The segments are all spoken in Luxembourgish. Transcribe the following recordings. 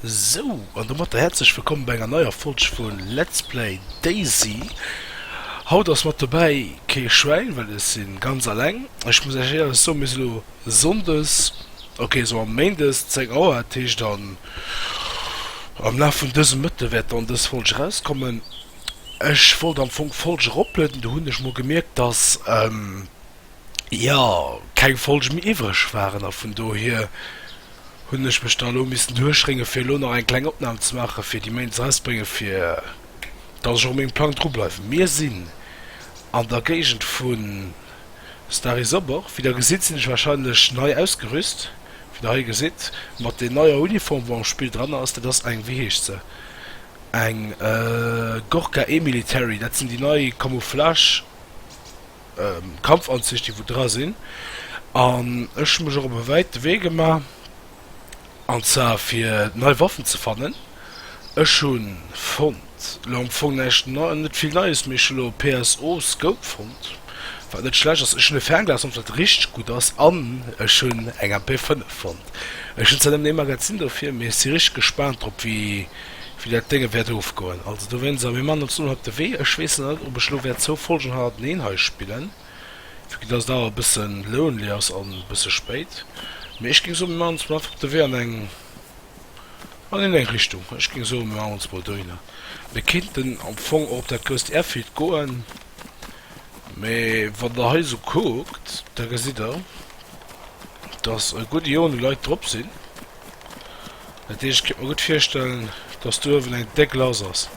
Sou, an domatter häerzlech wëllkomm bei enger neier Folg vu Let's Play Daisy. Haut ass mat dobäi kee Schwäin, well ech si ganz alleng. Ech muss iech éierlech soen, mir si lo Sonndes, ok sou am Méindes 10 Auer, dat heescht dann am Laf vun dësem Mëtte wäert dann dës Folg erauskommen. Ech wollt am Fong d'Folg eroplueden, du hunn ech mol gemierkt, dass. jo, keng Folge méi iwwreg waren a vun dohier hunn ech mech da elo missen duerchréngen, fir elo nach eng kleng Opnam ze maachen, fir déi Méint erausbréngen, fir dass ech och mengem Plang dru bleiwen. Mir sinn an der Géigend vu Stary Sobor. Wéi der gesitt, sinn ech warscheinlech nei ausgerüst, wéi der hei gesitt, mat den neier Uniform, wou am Spill dran ass. Dat ass eng, wéi heescht se, eng Gorka E-Military, dat sinn déi nei Camouflage. Kampfanzich déi wou dra sinn an ech hu mech och op e wäite Wee gemaach an zwar fir nei Waffen ze fannen. Ech hu fonnt lo am Fong näischt nei net vill Neies mee ech hu lo e PSO Scope fonnt wat net schlecht ass. Ech hunn e Fernglas fonnt wat richteg gutt ass an ech hunn eng MP 5 fonnt. Ech hunn zwar nëmmen ee Magazin dofir mee ech si richteg gespaant drop wéi wéi dat Dénge wäert ofgoen. Also dowéinst, a mir maachen ons elo op de Wee. Ech weess nach net, ob ech elo wäert zwou Folgen hannerteneen hei spillen, vu datt et awer e bësse lonely ass an e bësse spéit. Mee ech géing soen, mir maachen ons mol einfach op de Wee an eng, an eng eng Richtung. Ech géing soen, mir maachen ons mol dohinner. Mir kéinten am Fong och op dat grousst Airfield goen, mee wann Der hei esou kuckt, da gesitt Der, datt e gudde Jonge Leit drop sinn. Dat heescht, ech kéint mer gutt virstellen, dass do uewen eng déck lass ass.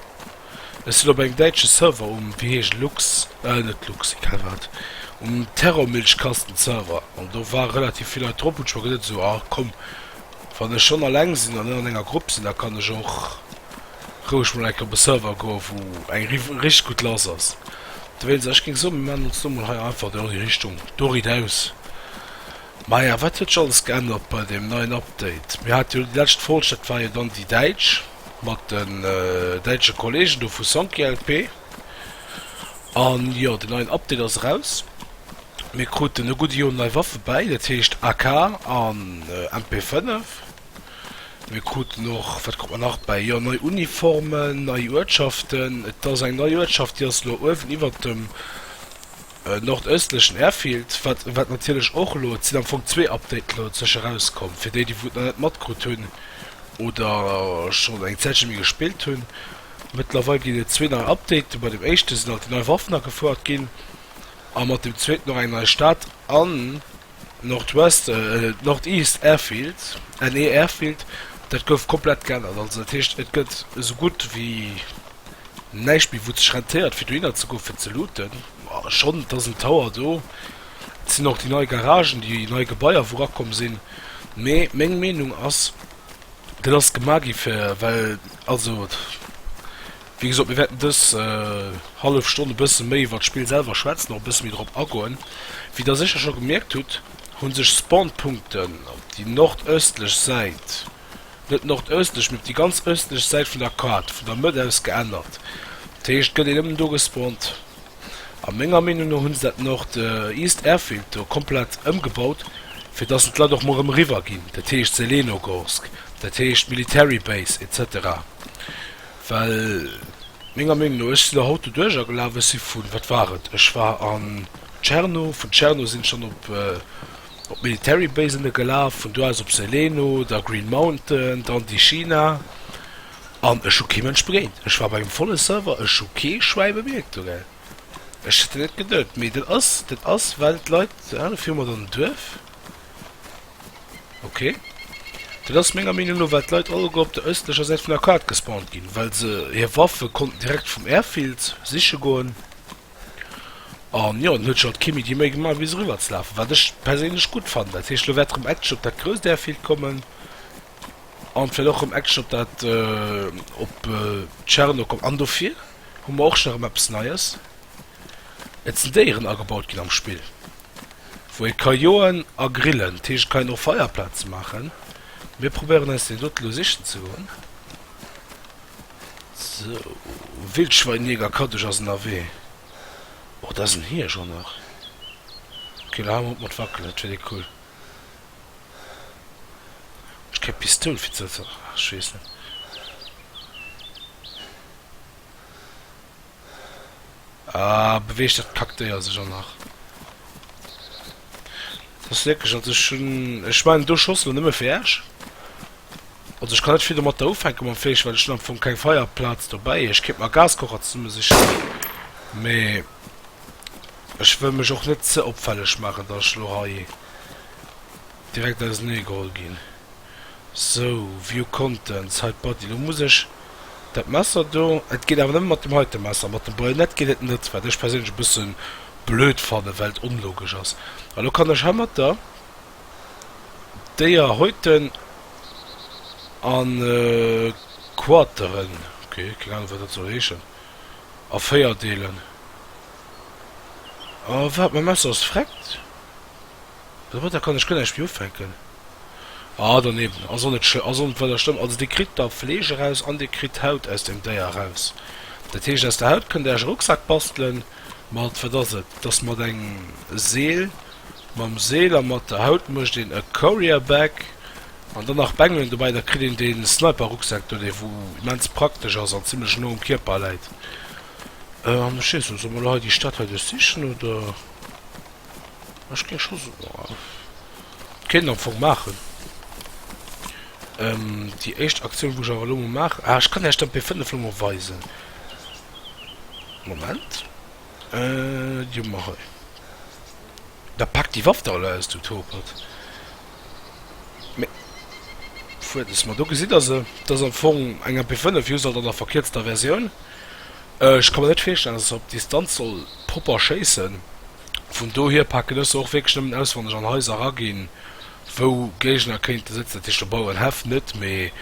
Ech sinn op engem däitsche Server um, wéi heescht et, Lux, äh net Lux, egal wat, um Terrormilchkasten-Server an do ware relativ vill Leit drop, hunn ech mer geduet esou, ah komm, wann ech schonn alleng sinn an net an enger Grupp sinn, da kann ech och roueg mol eng Kéier op e Server goen, wou eng richteg gutt lass ass. Dowéinst, ech géing soen, mir maachen ons do mol hei einfach do an déi Richtung, do riidaus. Maja, wat huet sech alles geännert bei deem neien Update? Mir hate jo déi lescht Folg, dat war jo dann déi däitsch, mat den däitsche Kolleegen do vu Sonkielp. An jo, den neien Update ass eraus. Mir kruten e gudde Joer nei Waffe bäi, dat heescht AK an MP5. Mir kruten och, wat krut mer nach bäi? Jo, nei Uniformen, nei Uertschaften. Et ass eng nei Uertschaft, déi ass elo uewen iwwert dem Nordöstlechen Airfield, wat wat natierlech och elo, et sinn am Fong zwee Updaten elo dozwësche rauskomm, fir déi déi wou et nach net matkrut hunn oder schonn eng Zäitche méi gespillt hunn. Mëttlerweil ginn et zwee nei Updaten, bei dem éischte sinn alt déi nei Waffen agefouert ginn a mat dem zweeten och eng nei Stad an, Nordwest, Northeast Airfield, NE Airfield, dat gouf komplett geännert. Also dat heescht, et gëtt esou gutt ewéi näischt méi, wou et sech rentéiert, fir dohinner ze goen, fir ze looten. Schonn, et ass en Tower do. Et sinn och déi nei Garagen, déi nei Gebaier, wou rakomm sinn. Mee meng Meenung ass, dat ass gemaach gi fir, well, also. Wéi gesot, mir wäerten dës hallef Stonn e bësse méi iwwert d'Spill selwer schwätzen, och e bësse méi drop agoen. Wéi der sécher scho gemierkt hutt, hu sech Spawnpunkten op déi nordëstlech Säit, net nordëstlech, mee op déi ganz ëstlech Säit vun der Kaart, vun der Mëtt aus geännert. Dat heescht, et gëtt een nëmmen do gespawnt. A menger Meenung no hu se dat Nord East Airfield do komplett ëmgebaut, fir dass en d'Leit och mol erëm eriwwer ginn, dat heescht Zelenogorsk, dat heescht d'Military Base, etc. Well menger Meenung no, ech sinn der haut doduerch agelaf, ech si vun, wat war et, ech war an Tscherno, vun Tscherno sinn ech dann op op d'Military Base ënne gelaf, vun do aus op Seleno, da Green Mountain, dann déi China, an ech hu kee Mënsch begéint. Ech war op engem volle Server, ech hu kee Schwäi bemierkt do, gell. Ech hätt et net geduet, mee dat ass, dat ass well d'Leit, ënne viru mer dann en Duerf. Ok. Dat ass menger Meenung no well d'Leit alleguer op der ëstlecher Säit vun der Kaart gespawnt ginn, well se hir Waffe konnten direkt vum Airfield siche goen. An jo, dann huet scho kee méi déi Méi gemaach bis eriwwer ze lafen, wat ech perséinlech gutt fannen. Dat heescht, elo wäert erëm Action op dat grousst Airfield kommen an vläicht och erëm Action op dat op Tscherno kommen an dofir hu mer och nach erëm eppes Neies. Et sinn Déieren agebaut ginn am Spill, wou ee ka joen a grillen. Dat heescht, et kann een och Feierplaze maachen. Mir probéieren eis déi dote elo sichen ze goen. Sou, Wildschweinjäger Kaddeg ass ënnerwee. Oh, dat ass en Hiesch och nach. Ok, elo hale mer op mat wackelen, dat fir déi cool. Ech keng Pistoul fir ze. Ach, ech weess net. Ahh, beweegt dat Kaktéier sech an nach? Dat ass wierklech, also ech hunn, ech mengen do schoss elo nëmme fir iech. Also ech kann net vill domatter ufänke mam Fleesch, well ech hunn am Fong keng Feierplaz dobäi. Ech kéint mer e Gaskocher zesummesichen, mee ech wëll mech och net ze opfälleg maachen, datt ech elo hei Direkt ausernee geholl ginn. Sou, view contents, hide body, lo muss ech dat Messer do, et geet awer nëmme mat dem heite Messer, mat dem Bajonett geet et net, wat ech perséinlech e bësse blöd fannen, well et onlogesch ass. A lo kann ech heimatter d'Déier häuten a quarteren, ok, keng Ahnung wat dat soll heeschen, a véier deelen. A wat, mäi Messer ass vreckt? Domatter kann ech guer näischt méi ufänken. Ah, doneewen ass och net schlëmm, ass och net weider schlëmm. Also Dir kritt da Fleesch eraus an Dir kritt Haut aus dem Déier eraus. Dat heescht, aus der Haut kënnt Dir Äerch e Rucksak bastelen mat, wat ass et, dass mat engem Seel, mam Seel a mat der Haut mécht een e Courier Bag an dann nach Bengelen dobäi, da kritt een dee Sniper Rucksak do, dee wou immens praktesch ass an zimlech no um Kierper läit. An ech seet, soss emol hei déi Stad hei duerchsichen oder? Ech géing scho soen, et kéint een am Fong maachen, déi éischt Aktioun, wou ech awer elo emol maachen, ah, ech kann Iech dann d'P5 elo emol weisen. Moment, déi hu mer hei. Da pack déi Waff da elo aus, du Topert! Mee fuer des mol. Do gesitt der se. Dat ass am Fong eng MP5, just alt an der verkierzter Versioun. Ech ka mer net virstellen, dass se op Distanz soll propper schéissen. Vun dohier paken ech se och wierklech nëmmen aus, wann ech an Haiser eraginn, wou Géigner kéinte sëtzen. Dat heescht, do bauen ech Häff net, mee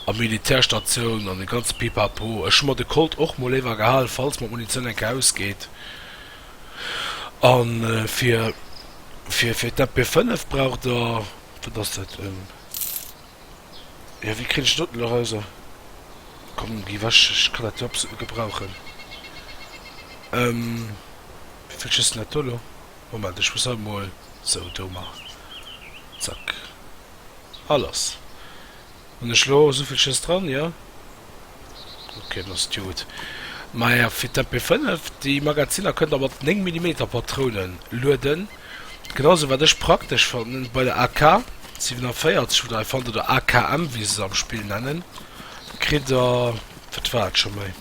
a Militärstatioun an dee ganze Pipapo. Ech hu mer de Colt och mol léiwer gehal, falls mer d'Munitioun eng Kéier ausgeet. An fir fir fir d'MP 5 braucht der, wat ass dat, en, jo wéi kritt ech doten erauser, komm gi wech, ech kann dat jo absolut net gebrauchen, em, wéi kritt ech dëst net do lo, Moment, ech muss hei mol sou do man, zack, a lass. Hun ech lo souvill Schëss dran? Jo. Ok dann ass et jo gudd. Maja fir d'MP 5 déi Magaziner kënnt der mat 9 Millimeter Patrounen lueden. Genau sou wat ech praktesch fannen bei der AK 47 oder hei fannt der der AKM wéi se se am Spill nennen kritt der wat war et scho méi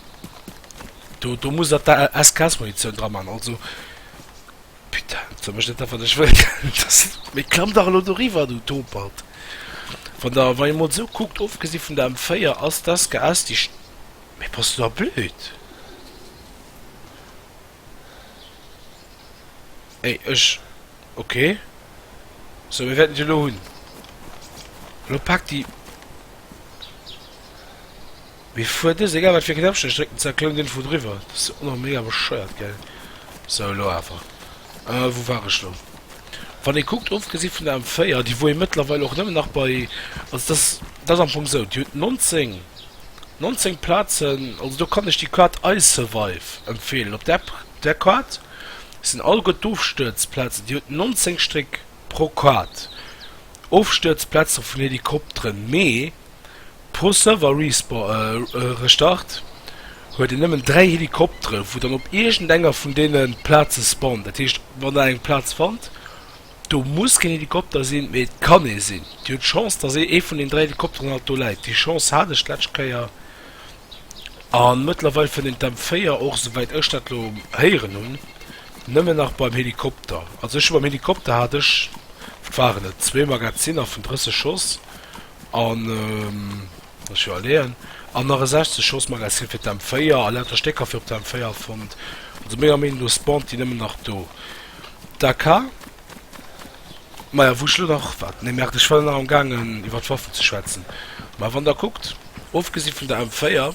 do do muss der d'ASKS Munitioun dra man also Putain, et soll mech net awer dech wëll gelt dass se. Mee klamm dach elo doriwwer, du Topert! Wann der, wann ee mol sou kuckt, ofgesi vun der M4, ass das GS déi. Mee bass du da blöd? Ey, ech. Ok. Sou, mir wäerten déi elo hunn. Elo pak déi. Mee fuer dëst, egal wat fir Knäppchen ech drécken, zack klount en vu driwwer. Dat ass och mega bescheuert, gell? Sou, elo awer, wou war ech lo? Wann ee kuckt, ofgesi vun der M4, déi wou ee mëttlerweil och nëmmen nach bei, also dat ass, dat ass am Fong sou, déi huet 19, 19 Plazen, also do kann ech déi Carte iSurvive empfeelen. Op där, där Carte sinn all gutt d'Ofstëerzplazen, déi huet 19 Stréck pro Carte, Ofstëerzplaze vun Helikopteren, mee Pro Server Restart huet een nëmmen 3 Helikoptere wou dann op iergend enger vun deene Plaze spawnt. Dat heescht wann der eng Plaz fannt, do muss keen Helikopter sinn, mee et kann ee sinn. Dir hutt Chance dass ee ee vun den 3 Helikopteren alt do läit. Déi Chance hat ech d'lescht Kéier a mëttlerweil fënnt een d'M 4 och, souwäit ech dat elo héieren hunn, nëmmen nach beim Helikopter. Also ech hu beim Helikopter hat ech, wat waren et, zwee Magazinner vun 30 Schoss. An lass ech iwwerleeën, an nach e 60 Schoss Magasin fir d'M 4 a lauter Stécker fir op der M 4 fonnt. Also menger Meenung no spawnt déi nëmmen nach do. DK, Maja wou ech elo nach, wat, nee Merde ech war nach am gaangen iwwer d'Waffen ze schwätzen. Mä wann der kuckt, ofgesi vun der M 4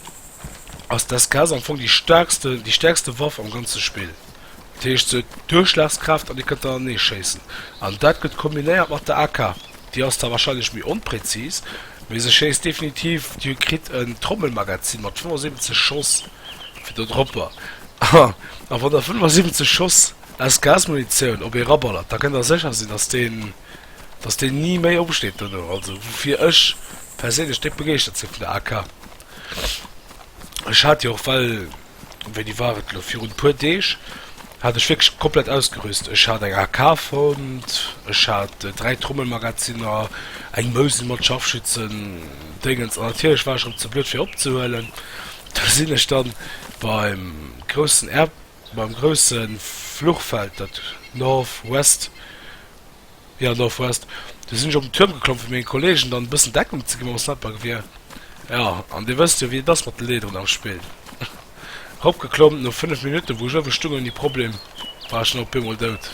ass d'SKS am Fong déi staarkste, déi stäerkste Waff am ganze Spill. Dat heescht, se huet Duerchschlagskraaft an Dir kënnt anernee schéissen. An dat gëtt kombinéiert mat der AK. Déi ass da warscheinlech méi onprezis, mee se schéisst definitiv. Dir kritt en Trommelmagazin mat 75 Schoss fir der Dropper. A wann Der 75 Schoss aus Gasmunitioun op ee raballert, da kënnt Der sécher sinn, dass deen, dass deen ni méi opsteet duerno. Also woufir ech perséinlech déck begeeschtert si vun der AK. Ech hat déi och well. Wéini war et elo, virun e puer Deeg hat ech wierklech komplett ausgerüst. Ech hat eng AK fonnt, ech hat dräi Trommelmagazinner, eng Mousel mat Scharfschützen-Déngens an natierlech war ech erëm ze blöd fir opzehuelen. Da sinn ech dann beim groussen Air, beim groussen Fluchfeld, dat North West. Ja Northwest, du sin ech op den Tuerm geklomm fir mengen Kollegen dann e bëssen Deckung ze gi mam Snipergewier, ja an dir wësst jo wéi et ass mat de Leederen am Spill. Ropgeklomm, no 5 Minutten wou ech uewen stung ouni Problem war ech dann op eemol dout.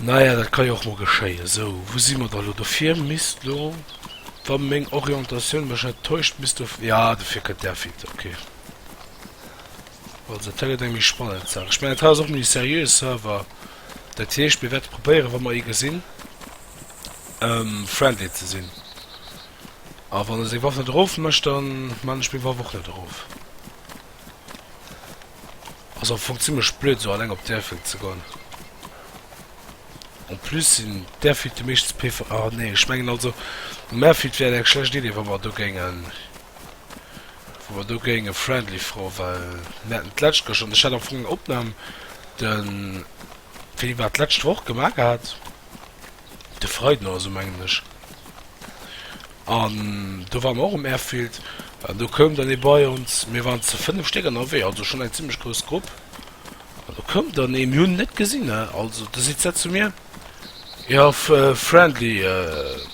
Naja dat kann jo och mol geschéien. Sou wou si mer da lo? Dofir misst lo wa meng Orientatioun mech net täuscht misst do, ja dofir kënnt där Finte ok. Also dat hei gëtt eng méi spannend Saach, ech mengen et hei ass och méi seriöe Server. Dat heescht, mir wäerte probéieren, wa mer ee gesinn, friendly ze sinn. A wann e seng Waff net erofmécht, da man ech meng Waff och net erof. Ass am Fong zimmlech blöd, esou alleng op d'Airfield ze goen. En plus sinn d'Airfielde meeschtens PV. Ah, nee, ech mengen also um Airfield wär et eng schlecht Idee, wa mer do géingen wou mer do géinge friendly froen, well mir haten d'lescht gëschter, an ech hat am Fong eng Opnam de Philippe war et d'lescht Woch gemaach gehat, de Freiden oder esou mengen ech, an do ware mer och um Airfield an do koum dann ee bei ons, mir waren ze fënnef Stéck ënnerwee, also schonn eng zimmlech grouss Grupp, an do koum dann ee, mir hunn en net gesinn, ne, also do seet se zu mir. Jo friendly,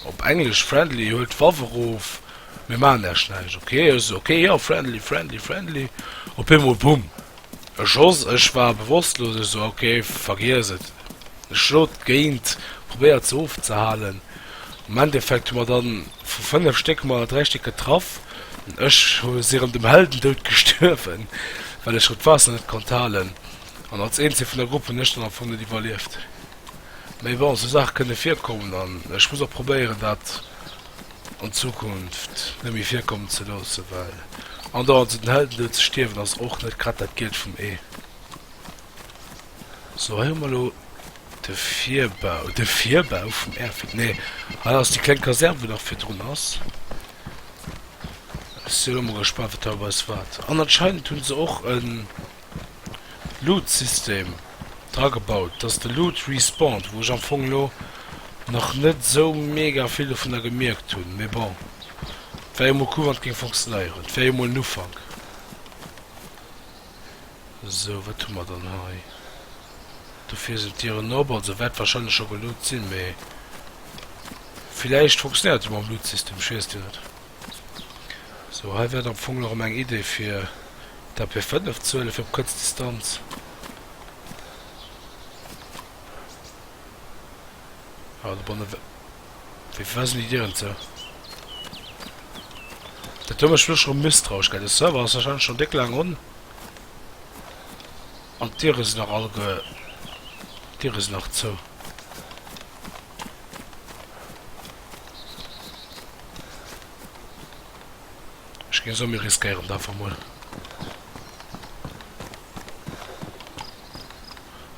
op englesch friendly, huelt d'Waff erof, mir maachen lech näischt, ok. Ech sou ok, jo friendly, friendly, friendly, op eemol bumm e Schoss, ech war bewosslos, ech sou ok vergiess et, ech schlo géint, probéiert se ofzehalen, am Endeffekt hu mer dann vu 5 Stéck hu mer der 3 Stéck getraff, ech si erëm dem Heldendoud gestuerwen, well ech rëm d'Waasser net konnt halen. An als eenzeg vun der Grupp hunn ech dann am Fong net iwwerlieft. Mee bon, esou Saache kënne virkommen an ech muss och probéieren dat an Zukunft net méi virkommen ze loossen, well andauernd esou den Heldendoud ze stierwen ass och net grad dat Gielt vum Ee. Sou, hei hu mer elo de Virbau, de Virbau vum Airfield, nee, hei ass déi kleng Kasern wou nach virdrun ass. Ech si elo mol gespannt wat hei op eis waart. An anscheinend hunn se och en. Loot System dra gebaut, dass de Loot respawnt, wou ech am Fong elo nach net esou mega vill dovunner gemierkt hunn, mee bon, et war jo mol cool wann et géing funktionéieren, et wär jo mol en Ufank. Sou, wat hu mer dann hei? Dofir sinn d'Dieren op, also wäert wahrscheinlech scho geloot sinn, mee villäicht funktionéiert et jo mam Loot System, ech weess et jo net. Sou, hei wäert am Fong nach erëm eng Idee fir d'AP 5 ze huelen, fir op kuerz Distanz ah do bannen wi wéi fir wessen Idee huelen ze. Dat huet mech wierklech erëm misstrauesch gehäit. De Server ass warscheinlech schonn déck laang on an d'Diere sinn nach all ge d'Diere sinn nach zou. Ech ginn esou, mir riskéieren et einfach mol.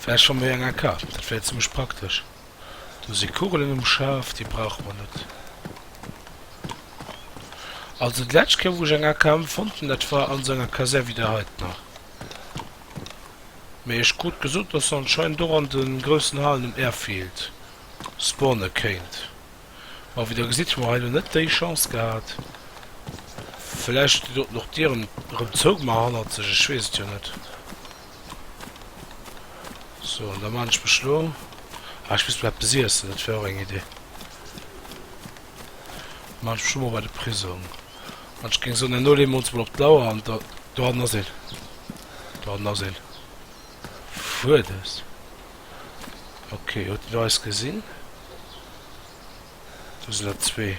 Vläicht fanne mir eng AK, dat wär zimmlech praktesch. Do si Kugelen um Schaf, déi brauche mer net. Also déi lescht Kéier wou ech eng AKM fonnt hunn, dat war an esou enger Kasär wéi där heiten nach. Mee ech krut gesot, dass anscheinend och an de groussen Halen um Airfield spawne kéint. Ma wéi der gesitt, hu mer hei elo net déi Chance gehat. Vläicht déi doten och d'Dieren erëm zougemaach hannerzeg, ech weess et jo net. Sou, an da maan ech mech elo, ah ech misst mer eppes iessen, dat wär och eng Idee. Ech sto mol bei de Prisong an ech géing soen, elo leeë mer ons mol op d'Lauer an dohannen ass een. Dohannen ass een. Fuerdes. Ok, huet en do eis gesinn? Do sinn der zwee.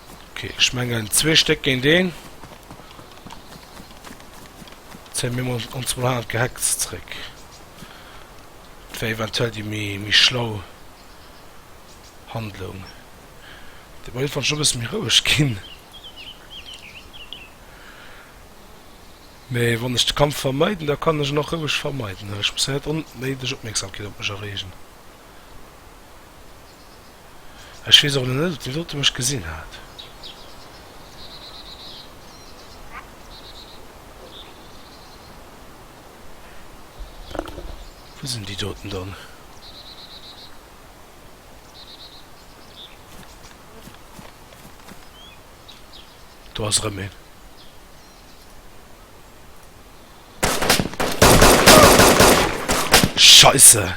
Ok ech mengen zwee Stéck géint een. Zéie mir mol ons mol hannert d'Gehecks zréck. Dat wär eventuell déi méi méi schlau Handlung. Dee Ball fand ech e bësse méi roueg ginn. Mee wann ech de Kampf vermeiden, da kann ech en och roueg vermeiden. Ech muss hei net onnéideg Opmierksamkeet op mech erreegen. Ech weess och net, ob déi dote mech gesinn hat. Wou sinn déi doten dann? Do ass erëm een. Scheisse!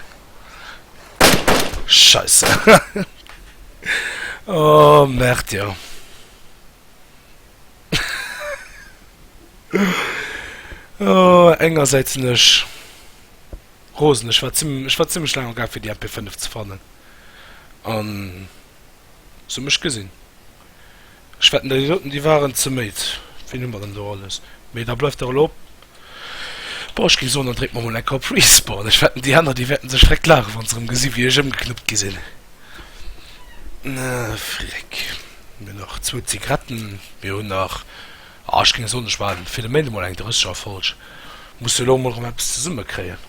Scheisse! oh, merkt jo. oh, engersäits sinn ech rosen. Ech war ziemlich, ech war ziemlich lang gar fir die MP5 ze fannen. An so mech gesinn. Ech wetten déi soten déi waren ze méid, wien hu mer denn do alles, mee da bleift der elo bon ech géif soen dann dréckt mer mol eng Koup Respawn, ech wetten déi aner déi wäerten sech vreckt laachen wann se rem gesi wéi ech ëmgeknuppt gi sinn, ah freck mir hunn nach zwou Zigaretten, mir hunn nach ah ech géing soen ech war fir de Méint emol eng 30 Erfolg, muss elo mol rem eppes zesumme kréien.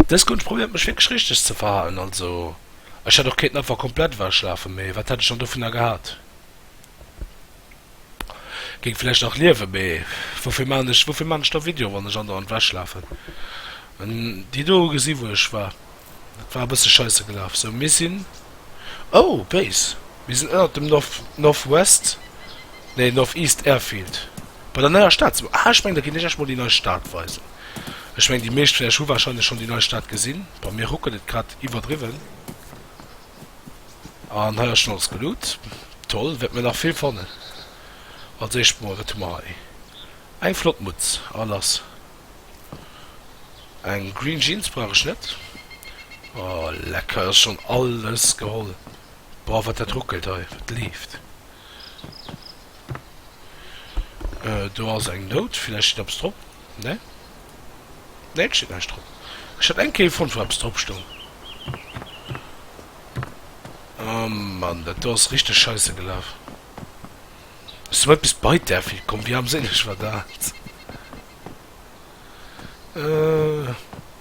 Dës Kull, ech probéiert mech wierklech richteg ze verhalen, also ech hätt och kéinten einfach komplett ewechschlafen, mee wat hätt ech dann dovunner gehat? Géing vläicht nach liewen, mee woufir maachen ech, woufir maachen ech da Videoen, wann ech andauernd ewechschlafen? An déi do hu gesi wou ech war. Dat war e bësse scheisse gelaf. Sou, mir sinn, oh, Base! Mir sinn ënnert dem North, Northwest, nee, Northeast Airfield, bei der neier Stad ze. Ah, ech mengen, da ginn ech iech mol déi nei Stad weisen. Ech mengen, déi meescht vun iech hu warscheinlech schonn déi nei Stad gesinn. Bei mir ruckelt et grad iwwerdriwwen. An hei ass schonn alles geloot. Toll, wäerte mir nach vill fannen. Als éischt mol, wat hu mer hei? Eng flott Mutz a lass. Eng green jeans brauch ech net. Oh lecker, ech schon alles geholl. Boah wat dat ruckelt hei, wat leeft? Euh do ass eng Note, villäicht steet eppes drop, ne? Nee et steet näischt drop. Ech hat eng Kéier fonnt wou eppes drop stoung. Oh Mann, dat do ass richteg scheisse gelaf. Hues du eppes bei d'A fir komm? Wéi armséileg war dat?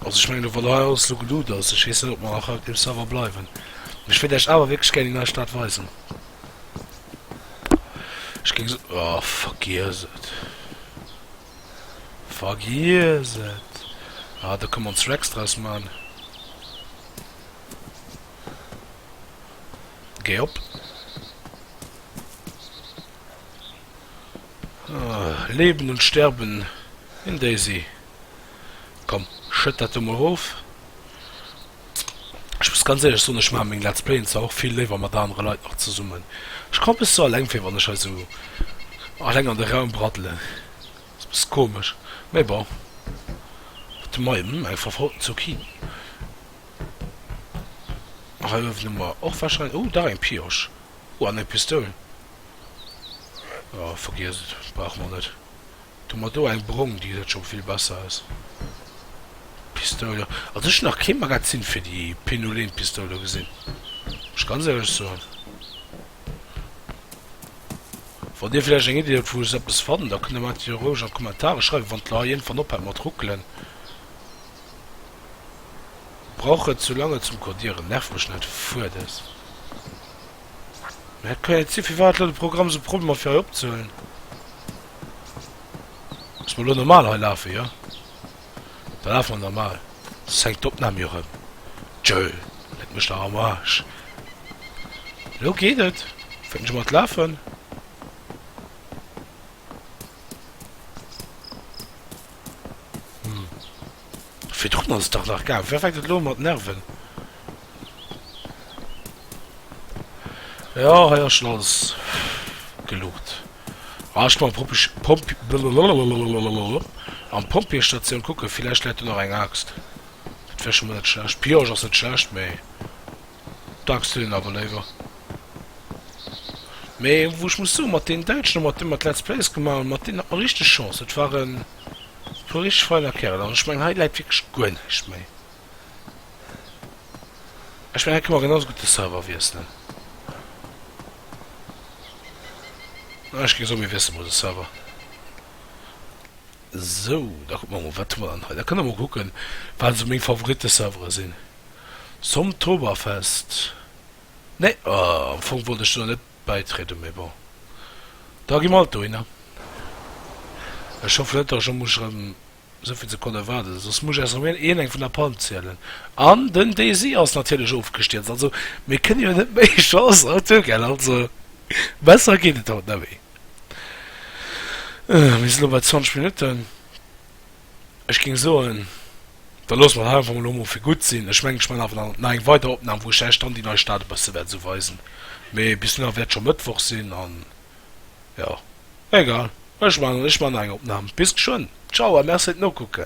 Also ech mengen lo wann hei alles lo geluut ass, ech weess net op mer nach hei op deem Server bleiwen, mee ech wéilt Iech awer wierklech gären déi nei Stad weisen. Ech géing se, oh vergiess et, vergiess et, ah da kënne mer ons Racks draus man. Géi op. Leben und sterben in Daisy. Komm, schëtt dat do mol rof. Ech muss ganz éierlech soen, ech maache meng Let's Playen zwar och vill léiwer mat anere Leit nach zesummen. Ech komme bis sou alleng vir, wann ech hei sou alleng an de Raum braddelen. Ass bis komesch, mee bon. Wat hun mei? Eng verfroten Zucchini. Hei uewen hu mer och warscheinlech, oh dach eng Piosch, oh an eng Pistoul, oh vergiesst et, brauche mer net. Do hu mer do eng brong, déi geseit scho vill besser aus. Pistoul, jo also ech hunn nach kee Magazin fir déi Penoulenpistoul do gesinn, muss ech ganz éierlech soen. Wann dir villäicht eng Iddi hutt wou ech sou eppes fannen, da kënnt der mer dat jo roueg an d'Kommentare schreiwen, wann et lo hei iergendwann ophält mat ruckelen. Brauch et sou lang et zum codieren nervt mech net fuer des mä et ka et si firwat lo de Programm sou Problemer fir hei opzehuelen muss mer lo normal hei lafen jo da lafe mer normal soss hänkt d'Opnahm jo rem tjöll leck mech dach am Arsch lo geet et fänkt scho mat lafen. Virdrun ass et dach nach gaang. Wéi fänkt et elo un mat nerven? Jo, hei ass schon alles gelucht. Ah, ech komme Pompech, Pomp, blablabla, an d'Pompjeestatioun kucken, villäicht läit do nach eng Aaxt. Dat wär schon mol net schlecht. Pioche ass net schlecht, mee. Dachseen awer léiwer. Mee wou ech muss soen, mat deenen Däitschen a mat deem mer d'Let's Plays gemaach hunn, mat deenen hat mer richteg Chance. Et ware puer richteg feiner Kerel. An ech mengen, hei läit wierklech guer näischt méi. Ech mengen, hei kënne mer genauso gutt de Server wiesselen. An ech géing soen, mir wiessele mol de Server. Sou, da kucke mer emol, wat hu mer dann hei. Da kënne mer emol kucken, wat esou meng Favoritte-Servere sinn. Zomtoberfest, nee am Fong wollt ech do net bäitrieden, mee bon, da gi mer alt dohinner. Ech hoffen net, dass ech elo muss erëm esouvill Sekonne waarden, soss muss ech eis erëm een eng vun der Palm zielen. An den Desi ass natierlech ofgestierzt, also mir kënne jo net méi Chance haut hu gell, also besser geet et haut net méi. Mir sinn elo bei 20 Minutten. Ech ging soen, da loosse mer et hei einfach mol emol fir gutt sinn. Ech mengen, ech man awer nach eng weider Opnahm, wou ech Äech dann déi nei Stad e bësse wäert esou weisen, mee bis dohinner wäert scho Mëttwoch sinn an jo, egal, ech man nach eng Opnahm. Bis geschwënn, ciao a merci fir d'Nokucke.